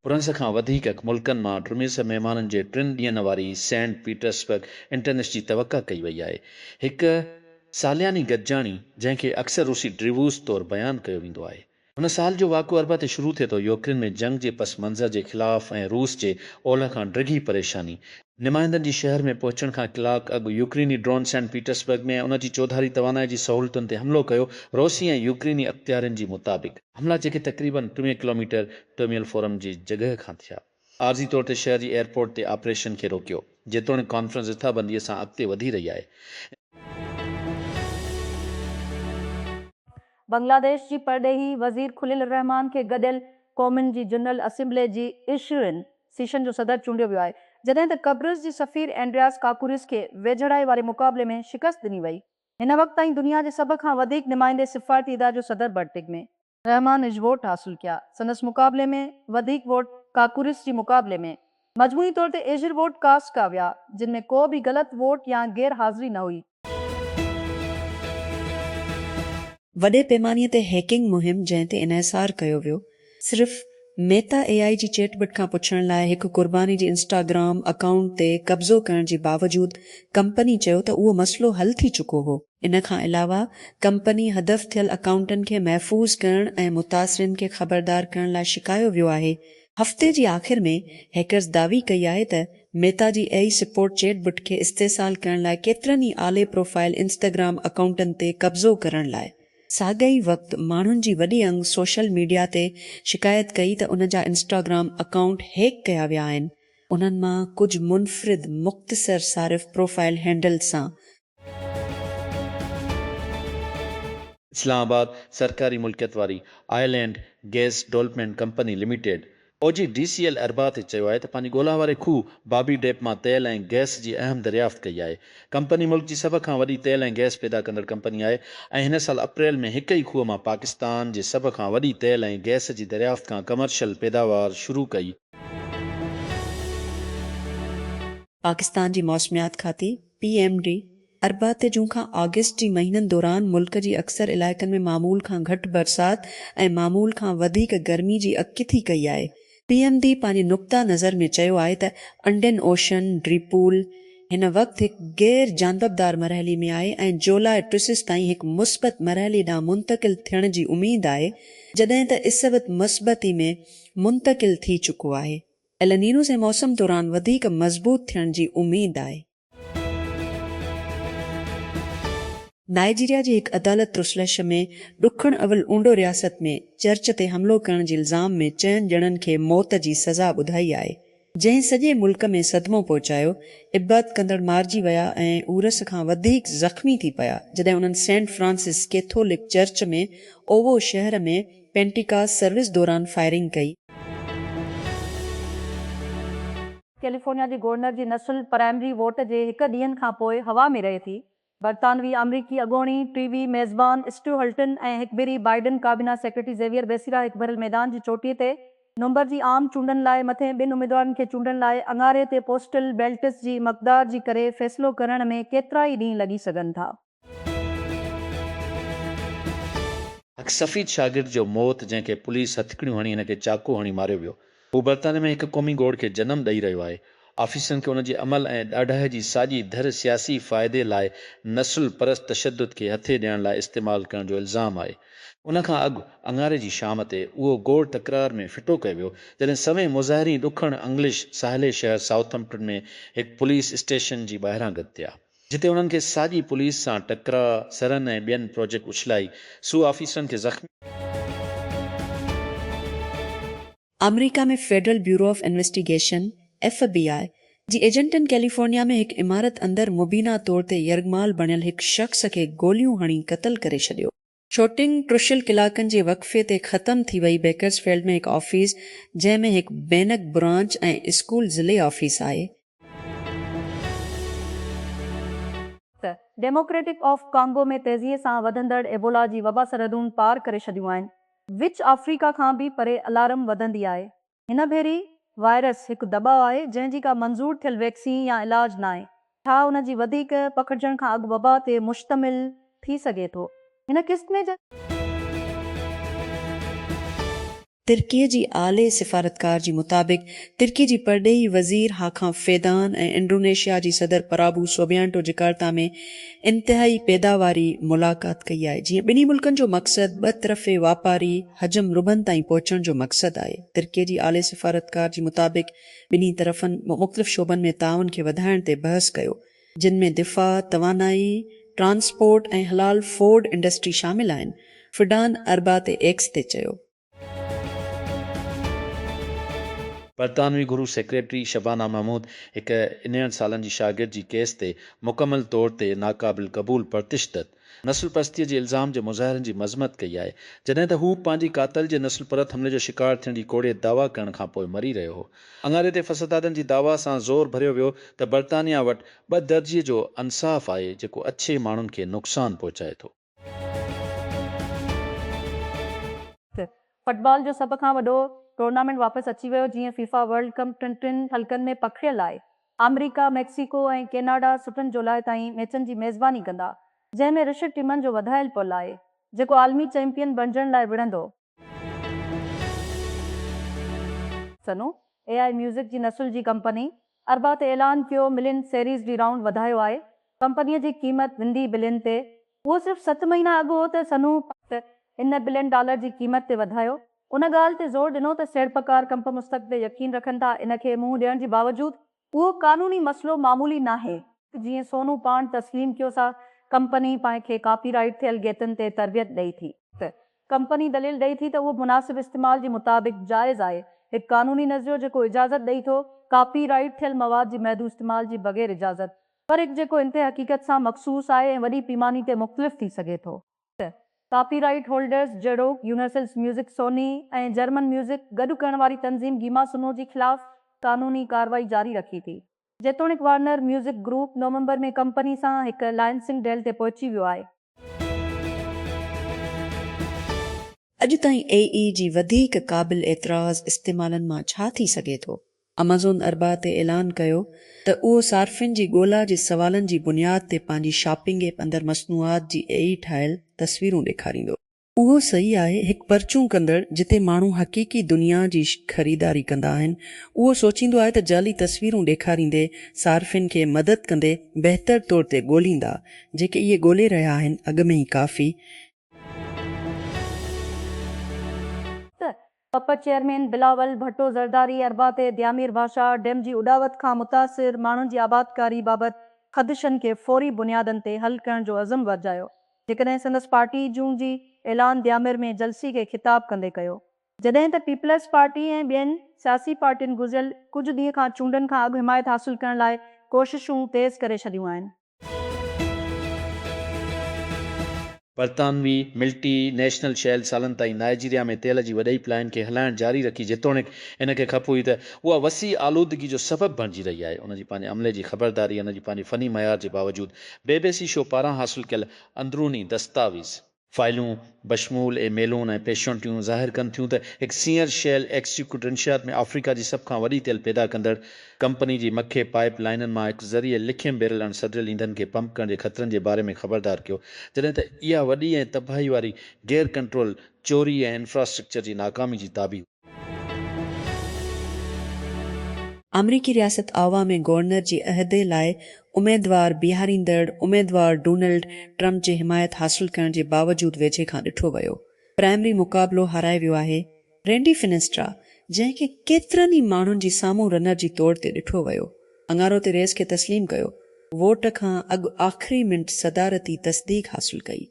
France کان وڌيڪ ملڪن مان ڊرميس مهمانن جي ٽن ڏينهن واري سينٽ پيٽرسبرگ انٽرنيش جي توقع ڪئي وئي آهي. هڪ سالياني گڏجاڻي جنهن کي اڪثر روسي ڊريووس طور بيان ڪيو ويندو آهي. هن سال جو واقعو اربع تي شروع ٿئي ٿو. يوڪرين ۾ جنگ جي پس منظر جي خلاف ۽ روس جي اولهه کان ڊگهي پريشاني. نمائندن جي شهر ۾ پهچڻ کان ڪلاڪ اڳ يوڪريني ڊرون سينٽ پيٽرسبرگ ۾ ۽ ان جي چوڌاري توانائي جي سهولتن تي حملو ڪيو، روسي ۽ يوڪريني اختيارين جي مطابق. حملا جيڪي تقريبن ٽيويهه ڪلوميٽر ٽرميل فورم جي جڳهه کان ٿيا. عارضي طور تي شهر جي ايئرپورٽ تي آپريشن کي روڪيو، جيتوڻيڪ ڪانفرنس رٿابنديء سان اڳتي وڌي رهي آهي. بنگلاديش جي پرڏيهي وزير خليل الرحمان کي گڏيل قومن جي جنرل اسيمبلي جي عشرين سيشن جو صدر چونڊيو ويو آهي، جڏهن ته قبرص جي سفير اينڊرياس ڪاڪوريس کي ويجهڙائي واري مقابلي ۾ شڪست ڏني وئي. هن وقت تائين دنيا جي سڀ کان وڌيڪ نمائندي سفارتي اداري جو صدر برٽڪ ۾. رحمان اڄ ووٽ حاصل ڪيا، سندس مقابلي ۾ وڌيڪ ووٽ ڪاڪورس جي مقابلي ۾ مجموعي طور تي ايجھر ووٽ ڪاسٽ ڪا ويا، جن ۾ ڪو به غلط ووٽ يا غير حاضري نه هئي. وڏي پيماني تي هيڪنگ مهم جنهن تي انحصار ڪيو ويو، صرف ميتا اي آئي جي چيٽ بٽ کان پڇڻ لاء هڪ قرباني جي انسٽاگرام اڪائونٽ تي قبضو ڪرڻ جي باوجود ڪمپني چيو ته اهو مسئلو حل ٿي چڪو هو. ان کان علاوه ڪمپني حذف ٿيل اڪائونٽن کي محفوظ ڪرڻ ۽ متاثرين کي خبردار ڪرڻ لاء شڪايو ويو آهي. هفتي جي آخر ۾ هيڪرز دعوي ڪئي آهي ته ميتا جي A I support chatbot کي استحصال ڪرڻ لاء ڪيترن ئي اعلي پروفائل انسٽاگرام اڪائونٽن تي قبضو ڪرڻ لاء ساڳئي ئي وقت ماڻهن جي وڏي انگ سوشل ميڊيا تي شڪايت ڪئي ته ان جا انسٽاگرام اڪائونٽ هيڪ ڪيا ويا آهن، انهن مان ڪجهه منفرد مختصر صارف پروفائل هينڊلز سان اسلام آباد، سرڪاري ملڪيت واري island gas development company limited, O G D C L, اربع تي چيو آهي ته پنهنجي ڳولا واري کوهه بابي ڊيپ مان تيل ۽ گئس جي اهم دريافت ڪئي آهي. ڪمپني ملڪ جي سڀ کان وڏي تيل ۽ گئس پيدا ڪندڙ ڪمپني آهي ۽ هن سال اپريل ۾ هڪ ئي کوهه مان پاڪستان جي سڀ کان وڏي تيل ۽ گئس جي دريافت کان ڪمرشل پيداوار شروع ڪئي. پاڪستان جي موسميات کاتي پي ايم ڊي، اربع تي جون کان آگسٽ جي مهينن دوران ملڪ جي اڪثر علائقن ۾ معمول کان گهٽ برسات ۽ معمول کان وڌيڪ گرمي جي اڳڪٿي ڪئي آهي. پي ايم ڊي پنهنجي نقطه نظر ۾ چيو آهي ته انڊين اوشن ڊي پول هن وقت هڪ غير جانببدار مرحلي ۾ آهي ۽ جولاء ٽيسس تائين هڪ مثبت مرحلي ڏانهن منتقل ٿيڻ جي اميد آهي جڏهن ته اسبت مثبتي ۾ منتقل ٿي چڪو آهي. النينو جي موسم دوران وڌيڪ مضبوط ٿيڻ جي اميد آهي. نائيجيريا جي هڪ عدالت ترسلش ۾ ڏکڻ اولھ اونڊو رياست ۾ چرچ تي حملو ڪرڻ جي الزام ۾ چئن ڄڻن کي موت جي سزا ٻڌائي آهي، جنهن سڄي ملڪ ۾ صدمو پهچايو، عبادت ڪندڙ مارجي ويا ۽ عورث کان وڌيڪ زخمي ٿي پيا، جڏهن انهن saint Francis Catholic church ۾ Owo شهر ۾ پينٽيڪاس سروس دوران فائرنگ ڪئي. ڪيليفورنيا جي گورنر جي نسل پرائمري ووٽ جي هڪ ڏينهن کان پوء هوا ۾ رهي ٿي. برطانوي آمريڪي اڳوڻي ٽي وي ميزبان اسٽيو هلٽن ۽ هڪڀيري بائيڊن ڪابينا سيڪريٽري زيويئر بيسيرا هڪڀريل ميدان جي چوٽي تي نومبر جي عام چونڊن لاء مٿين ٻن اميدوارن کي چونڊڻ لاء اڱاري تي پوسٽل بيلٽس جي مقدار جي ڪري فيصلو ڪرڻ ۾ ڪيترائي ڏينهن لڳي سگهن ٿا. هڪ سفيد شاگرد جو موت جنهن کي پوليس هٿڪڙيون هڻي هن کي چاقو هڻي ماريو ويو. هو برطانيه ۾ هڪ قومي گوڙ کي جنم ڏئي رهيو آهي. آفيسرن کي ان جي عمل ۽ ڏاڍائي جي ساڄي ڌر سياسي فائدي لاء نسل پرست تشدد کي هٿي ڏيڻ لاء استعمال ڪرڻ جو الزام آهي. ان کان اڳ اڱاري جي شام تي اهو گوڙ تڪرار ۾ ڦٽو ڪيو ويو جڏهن سوين مظاهرين ڏکڻ انگلش ساحلي شهر سائوٿمپٽن ۾ هڪ پوليس اسٽيشن جي ٻاهران گڏ ٿيا. جتي انهن کي ساڄي پوليس سان ٽڪراء سرن ۽ ٻين پروجيڪٽ اڇلائي سو آفيسرن کي زخمي آمريڪا ۾ federal bureau of investigation, F B I, جي ايجنٽن ڪيليفورنيا ۾ هڪ عمارت اندر مبينا طور تي يرغمال بڻيل هڪ شخص کي گوليون هڻي قتل ڪري ڇڏيو. شوٽنگ ٽشل ڪلاڪن جي وقفي تي ختم ٿي وئي، بيڪرز فيلڊ ۾ هڪ آفيس جنهن ۾ هڪ بينڪ برانچ ۽ اسڪول ضلعي آفيس آهي. ڊيموڪريٽڪ آف ڪانگو ۾ تيزيء سان وڌندڙ ايبولا جي وبا سرحدون پار ڪري ڇڏيون آهن، وچ آفريڪا کان به پري الارم وڌندي آهي. هن ڀيري وائرس هڪ دٻاء آهي جنهن جي ڪا منظور ٿيل ويڪسين يا علاج ناهي. ڇا ان جي وڌيڪ پکڙجڻ کان اڳ وبا تي مشتمل ٿي سگهي ٿو. هن قسم جي. ترڪي جي اعلي سفارتڪار جي مطابق ترڪي جي پرڏيهي وزير هاڪان فيدان ۽ انڊونيشيا جي صدر پرابو سوبيانٽو جڪارتا ۾ انتهائي پيداواري ملاقات ڪئي آهي جيئن ٻنهي ملڪن جو مقصد ٻه طرفي واپاري حجم ربن تائين پهچڻ جو مقصد آهي. ترڪي جي اعلي سفارتڪار جي مطابق ٻنهي طرفن مختلف شعبن ۾ تعاون کي وڌائڻ تي بحث ڪيو، جن ۾ دفاع، توانائي، ٽرانسپورٽ ۽ حلال فوڊ انڊسٽري شامل آهن، فڊان اربع تي ايڪس تي چيو. برطانوي گهرو سيڪريٽري شبانه محمود هڪ انيهن سالن جي شاگرد جي ڪيس تي مڪمل طور تي ناقابل قبول پرتشدد نسل پرستيء جي الزام جي مظاهرن جي مذمت ڪئي آهي، جڏهن ته هو پنهنجي قاتل جي نسل پرت حملي جو شڪار ٿيڻ جي ڪوڙي دعويٰ ڪرڻ کان پوء مري رهيو هو. اڱاري تي فسدادن جي دعويٰ سان زور ڀريو ويو ته برطانيا وٽ ٻه درجي جو انصاف آهي، جيڪو اڇي ماڻهن کي نقصان پهچائي ٿو. فٽبال جو سڀ کان وڏو ٽورنامينٽ واپس اچي ويو، جيئن فيفا ورلڊ ڪپ ٽن ٽن حلقن ۾ پکڙيل آهي. آمريڪا، ميڪسيڪو ۽ ڪيناڊا سٽن جولاء تائين ميچن جي ميزباني ڪندا، جنهن ۾ رشٽ ٽيمن جو وڌايل پل آهي، جيڪو عالمي چيمپيئن بڻجڻ لاء وڙهندو. سنو، اي آء ميوزڪ جي نسل جي ڪمپني، اربع تي اعلان ڪيو ملين سيريز ڊي رائونڊ وڌايو آهي، ڪمپنيء جي قيمت وندي بلين تي اهو صرف ست مهينا اڳ هو ته سنهو پ. پ. ان بلين ڊالر جي قيمت تي وڌايو ان ڳالهه تي زور ڏنو ته سيڙپڪار ڪمپ مستقبل تي يقين رکن ٿا ان کي منهن ڏيڻ جي باوجود اهو قانوني مسئلو معمولي ناهي. جيئن سونهو پاڻ تسليم ڪيو سا ڪمپني پنهن کي ڪاپي رائيٽ ٿيل گيتن تي تربيت ڏئي ٿي. پ. پ. ڪمپني دليل ڏئي ٿي ته اهو مناسب استعمال جي مطابق جائز آهي، هڪ قانوني نظريو جيڪو اجازت ڏئي ٿو ڪاپي رائيٽ ٿيل مواد جي محدود استعمال جي بغير اجازت فرق جيڪو انتهائي حقيقت سان مخصوص آهي ۽ وڏي پيماني تي مختلف ٿي سگهي ٿو. ٽه، ڪاپي رائيٽ هولڊرز جهڙوڪ universal music Sony ۽ German music گڏ ڪرڻ واري تنظيم گيما سنو جي خلاف قانوني ڪارروائي جاري رکي ٿي. جيتوڻيڪ وارنر ميوزڪ گروپ نومبر ۾ ڪمپني سان هڪ لائنسنگ ڊيل تي پهچي ويو آهي. اڄ تائين اي اي جي وڌيڪ قابل اعتراض استعمالن مان ڇا ٿي سگهي ٿو؟ امازون اربع تي اعلان ڪيو ته اهو صارفين جي ڳولا جي سوالن جي بنياد تي پنهنجي شاپنگ ايپ اندر مصنوعات جي اي اي ٺاهيل تصويرون ڏيکاريندو. اهو صحيح آهي هڪ پرچون ڪندڙ جتي ماڻهو حقيقي دنيا جي خريداري ڪندا آهن اهو سوچيندو آهي ته جعلي تصويرون ڏيکاريندي صارفين کي مدد ڪندي بهتر طور تي ڳوليندا جيڪي اهي ڳولي رهيا آهن اڳ ۾ ئي ڪافي پ پ چيئرمين بلاول ڀٽو زرداري اربع تي ديامير ڀاشا ڊيم جي اڏاوت کان متاثر ماڻهن جي آبادڪاري بابت خدشن کي فوري بنيادن تي حل ڪرڻ جو عزم ورجايو جيڪڏهن سندس پارٽي جون جي اعلان ديامير ۾ جلسي کي خطاب ڪندي ڪيو. جڏهن ته پيپلز پارٽي ۽ ٻين سياسي پارٽين گذريل ڪجهه ڏينهن کان چونڊن کان اڳ حمايت حاصل ڪرڻ لاء ڪوششون تيز ڪري ڇڏيون آهن. برطانوي ملٽي نيشنل شيل سالن تائين نائيجيريا ۾ تيل جي وڏئي پلائن کي هلائڻ جاري رکي جيتوڻيڪ ان کي خپ هئي ته اها وسيع آلودگي جو سبب بڻجي رهي آهي ان جي پنهنجي عملي جي خبرداري ۽ ان جي پنهنجي فني معيار جي باوجود بي بي سي شو پاران حاصل ڪيل اندروني دستاويز فائلون بشمول اي ميلون ۽ پيشنٽيون ظاهر ڪن ٿيون ته هڪ سينئر شيل ايڪسيڪيوٽو انشيات ۾ آفريڪا جي سڀ کان وڏي تيل پيدا ڪندڙ ڪمپني جي مکيه پائيپ لائينن مان هڪ ذريعي لکين بيرل اڻ سڌريل اينڌن کي پمپ ڪرڻ جي خطرن جي باري ۾ خبردار ڪيو جڏهن ته اها وڏي ۽ تباهي واري غير ڪنٽرول چوري ۽ انفراسٽرڪچر جي ناڪامي جي تابع هئي. آمريڪي رياست آئوا ۾ گورنر جي عهدي لاء اميدوار بيهاريندڙ اميدوار ڊونلڊ ٽرمپ جي حمايت حاصل ڪرڻ جي باوجود ويجهي کان ڏٺو ويو پرائمري مقابلو هارائي ويو آهي رينڊي فنسٽرا جنهن کي ڪيترن ئي ماڻهن جي سامهون رنر جي طور تي ڏٺو ويو اڱارو تي ريس کي تسليم ڪيو ووٽ کان اڳ آخري منٽ صدارتي تصديق حاصل ڪئي.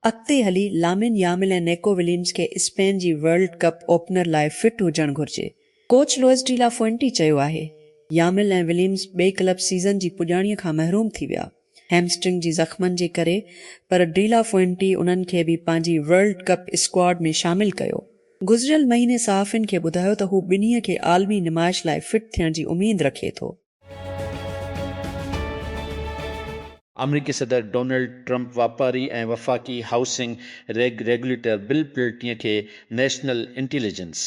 اڳتي هلي لامين يامل ۽ نيڪو وليمز کي اسپين جي ورلڊ ڪپ اوپنر لاء فٽ هجڻ گهرجي. Coach Luis de la Fuente چيو آهي، يامل ۽ وليمز ٻئي ڪلب سيزن جي پڄاڻيء کان محروم ٿي ويا، هيمسٽرنگ جي زخمن جي ڪري، پر ڊي لا فوئنٽي انهن کي به پنهنجي ورلڊ ڪپ اسڪواڊ ۾ شامل ڪيو. گذريل مهيني صحافين کي ٻڌايو ته هو ٻنهي کي عالمي نمائش لاء فٽ ٿيڻ جي اميد رکي ٿو. آمريڪي صدر ڊونلڊ ٽرمپ واپاري ۽ وفاقي housing reg regulator Bill Pulte کي national intelligence,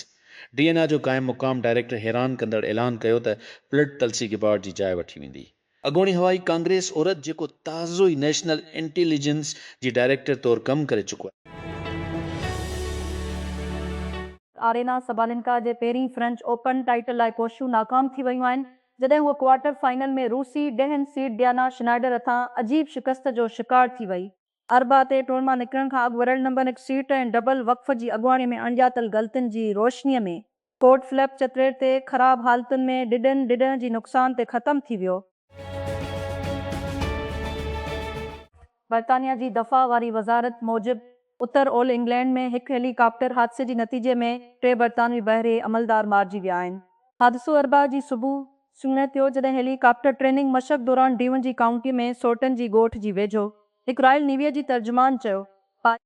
D N I, جو قائم مقام ڊائريڪٽر حيران ڪندڙ اعلان ڪيو ته پلٽ تلسي گبارڊ جي جاء وٺي ويندي. اڳوڻي هوائي ڪانگريس عورت جيڪو تازو ئي نيشنل انٽيليجنس جي ڊائريڪٽر طور ڪم ڪري چڪو آهي. آرينا سبالينڪا جي پهرين فرينچ اوپن ٽائيٽل لاء ڪوششون ناڪام ٿي ويون آهن، جڏهن هوء ڪوارٽر فائنل ۾ روسي ڏهن سيڊ ڊيانا شنائيڊر هٿان عجيب شڪست جو شڪار ٿي وئي. اربع تي ٽور مان نڪرڻ کان اڳ ورلڊ نمبر هڪ سيٽ ۽ ڊبل وقف جي اڳواڻي ۾ اڻڄاتل غلطين جي روشني ۾ ڪورٽ فلپ چترير تي خراب حالتن ۾ ڊڊن ڊڏهن جي نقصان تي ختم ٿي ويو. برطانيا جي دفاع واري وزارت موجب اتر اولھ انگلينڊ ۾ هڪ هيلي ڪاپٽر حادثي جي نتيجي ۾ ٽي برطانوي بحري عملدار مارجي ويا آهن. حادثو اربع جي صبح سوڻي ٿيو جڏهن هيلي ڪاپٽر ٽريننگ مشق دوران ڊيون جي ڪائونٽي ۾ سورٽن جي ڳوٺ جي ويجهو هڪ رائل نيويء جي ترجمان چيو پاء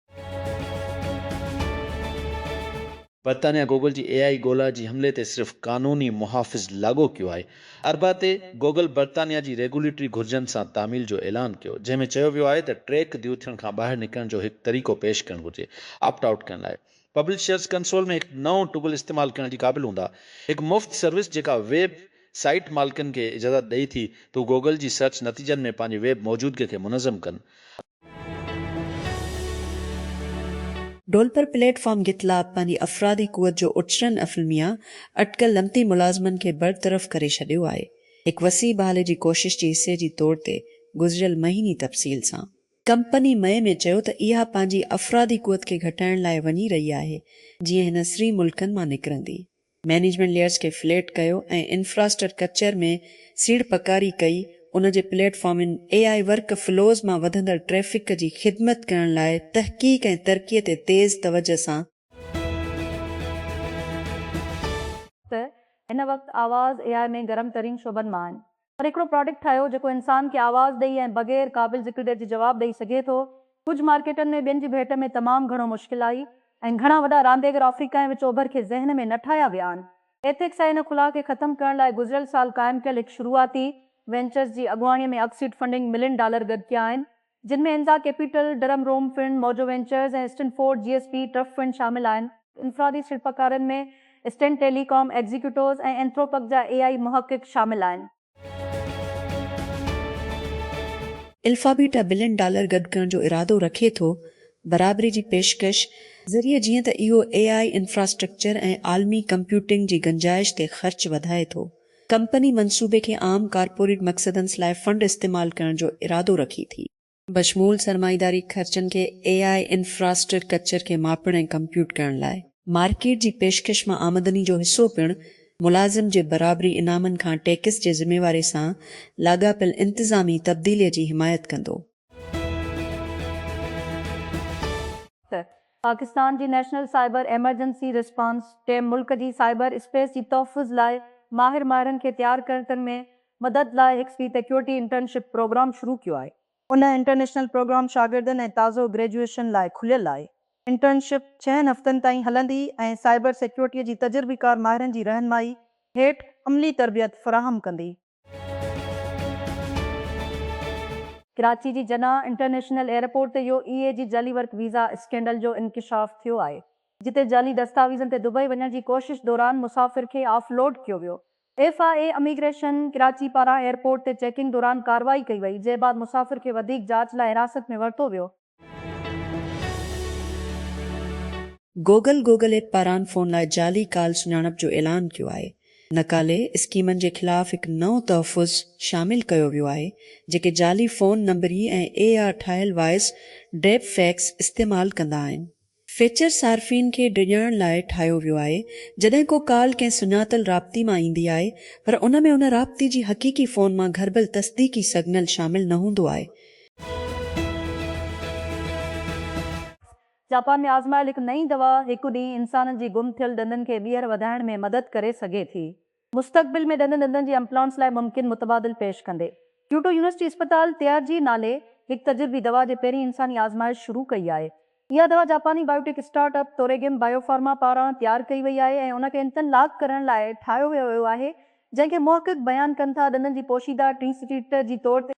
برطانيا گوگل جي اي آء ڳولا جي حملي تي صرف قانوني محافظ لاڳو ڪيو آهي. اربع تي گوگل برطانيا جي ريگوليٽري گهرجن سان تعميل جو اعلان ڪيو، جنهن ۾ چيو ويو آهي ته ٽريڪ ديو ٿيڻ کان ٻاهر نڪرڻ جو هڪ طريقو پيش ڪرڻ گهرجي، آپٽ آئوٽ ڪرڻ لاء پبلشرز ڪنسول ۾ هڪ نئون ٽگل استعمال ڪرڻ جي قابل هوندا. هڪ مفت سروس جيڪا ويب سائيٽ مالڪن کي اجازت ڏئي ٿي ته هو گوگل جي سرچ نتيجن ۾ پنهنجي ويب موجودگي کي منظم ڪن. ڍولپور پليٽ فارم گيتلاپ پنهنجي افرادي قوت جو اچرن افلميا اٽڪل لمتي ملازمن کي برطرف ڪري ڇڏيو آهي هڪ وسيع بحالي جي ڪوشش جي حصي جي طور تي گذريل مهيني تفصيل سان ڪمپني مئي ۾ چيو ته اها پنهنجي افرادي قوت کي گهٽائڻ لاء وڃي رهي آهي جيئن هن سري ملڪن مان نڪرندي. مئنيجمينٽ ليئرز کي فليٽ ڪيو ۽ انفراسٽر ڪچر ۾ سيڙپڪاري ڪئي، ان جي پليٽ فارمن اي آء ورڪ فلوز مان وڌندڙ ٽريفڪ جي خدمت ڪرڻ لاء تحقيق ۽ ترقي تي تيز توجه سان. ته هن وقت آواز اي آء ۾ گرم ترين شعبن مان آهن پر هڪڙو پراڊڪٽ ٺاهيو جيڪو انسان کي آواز ڏئي ۽ بغير قابل ذڪر ڊيٽ جي جواب ڏئي سگهي ٿو. ڪجهه مارڪيٽن ۾ ٻين جي ڀيٽ ۾ تمام گهڻو مشڪل آئي ۽ گهڻا وڏا رانديگر آفريڪا ۽ وچ اوڀر کي ذهن ۾ نه ٺاهيا ويا آهن. ايٿڪس ۽ ان خلا کي ختم ڪرڻ لاء گذريل سال قائم ڪيل هڪ شروعاتي وينچرز جي اڳواڻي ۾ اڳ سيڊ فنڊنگ ملين ڊالر گڏ ڪيا آهن. جن ۾ انزا capital, drum room fund, Mojo ventures ۽ Stanford جي ايس پي ٽرف فنڊ شامل آهن. انفرادي سيڙپڪارن ۾ اسٽن ٽيلي ڪام ايگزيڪيوٽوز ۽ اينٿروپڪ جا اي آئي محقق شامل آهن. الفابيٽا بلين ڊالر گڏ ڪرڻ جو ارادو رکي ٿو برابري جي پيشڪش ذريعي جيئن ته اهو اي آئي انفراسٽرڪچر ۽ عالمي ڪمپيوٽنگ جي گنجائش تي خرچ وڌائي ٿو. ڪمپني منصوبي کي عام ڪارپوريٽ مقصدن سلاء فنڊ استعمال ڪرڻ جو ارادو رکي ٿي. بشمول سرمائيداري خرچن کي اي آء انفراسٽر ڪچر کي ماپڻ ۽ ڪمپيوٽ ڪرڻ لاء. مارڪيٽ جي پيشڪش مان آمدني جو حصو پڻ ملازم جي برابري انعامن کان ٽيڪس جي ذميواري سان لاڳاپيل انتظامي تبديلي جي حمايت ڪندو. ته پاڪستان جي national cyber emergency response team ملڪ جي سائبر اسپيس جي تحفظ لاء ماهر ماهرن کي تيار ڪرڻ ۾ مدد لاء هڪ سي ٽيڪيورٽي انٽرنشپ پروگرام شروع ڪيو آهي. ان انٽرنيشنل پروگرام شاگردن ۽ تازو گريجوئيشن لاء کليل آهي. انٽرنشپ ڇهن هفتن تائين هلندي ۽ سائبر سيڪيورٽي جي تجربيڪار ماهرن جي رهنمائي هيٺ عملي تربيت فراهم ڪندي. ڪراچي جي جناح انٽرنيشنل ايئرپورٽ تي يو اي اي جي جعلي ورڪ ويزا اسڪينڊل جو انڪشاف ٿيو آهي، جتي جعلي دستاويزن تي دبئي وڃڻ جي ڪوشش دوران مسافر کي آف لوڊ ڪيو ويو. F I A immigration Karachi پاران ايئرپورٽ تي چيڪنگ دوران ڪارروائي ڪئي وئي، جنهن بعد مسافر کي وڌيڪ جاچ لاء حراست ۾ ورتو ويو. گوگل گوگل ايپ پاران فون لاء جعلي ڪال سڃاڻپ جو اعلان ڪيو آهي. نقالي اسڪيمن جي خلاف هڪ نئون تحفظ شامل ڪيو ويو آهي، جيڪي جعلي فون نمبري ۽ اي آء ٺاهيل وائس ڊيپ فيڪس استعمال ڪندا آهن. فيچر صارفين کي ڊڄڻ لاء ٺاهيو ويو آهي، جڏهن ڪو ڪال ڪنهن سڃاتل رابطي مان ايندي آهي پر ان ۾ ان رابطي جي حقيقي فون مان گهربل تصديقي سگنل شامل نه هوندو آهي. جاپان ۾ آزمايل هڪ نئين دوا هڪ ڏينهن انسانن جي گم ٿيل ڏندن کي ٻيهر وڌائڻ ۾ مدد ڪري سگهي ٿي. مستقبل ۾ ڏندن ڏندن جي امپلانٽس لاء ممڪن متبادل پيش ڪندي، ڪيوٽو يونيورسٽي اسپتال تيار جي نالي هڪ تجربي دوا جي پهرين انساني آزمائش شروع ڪئي آهي. اها دوا جاپاني biotech startup توريگيم bio pharma پاران تيار ڪئي وئي آهي ۽ ان کي انتن لاڪ ڪرڻ لاء ٺاهيو ويو ويو آهي، جنهن کي محقق بيان ڪن ٿا ڏندن جي پوشيده ٽرينسٽيٽ جي طور تي.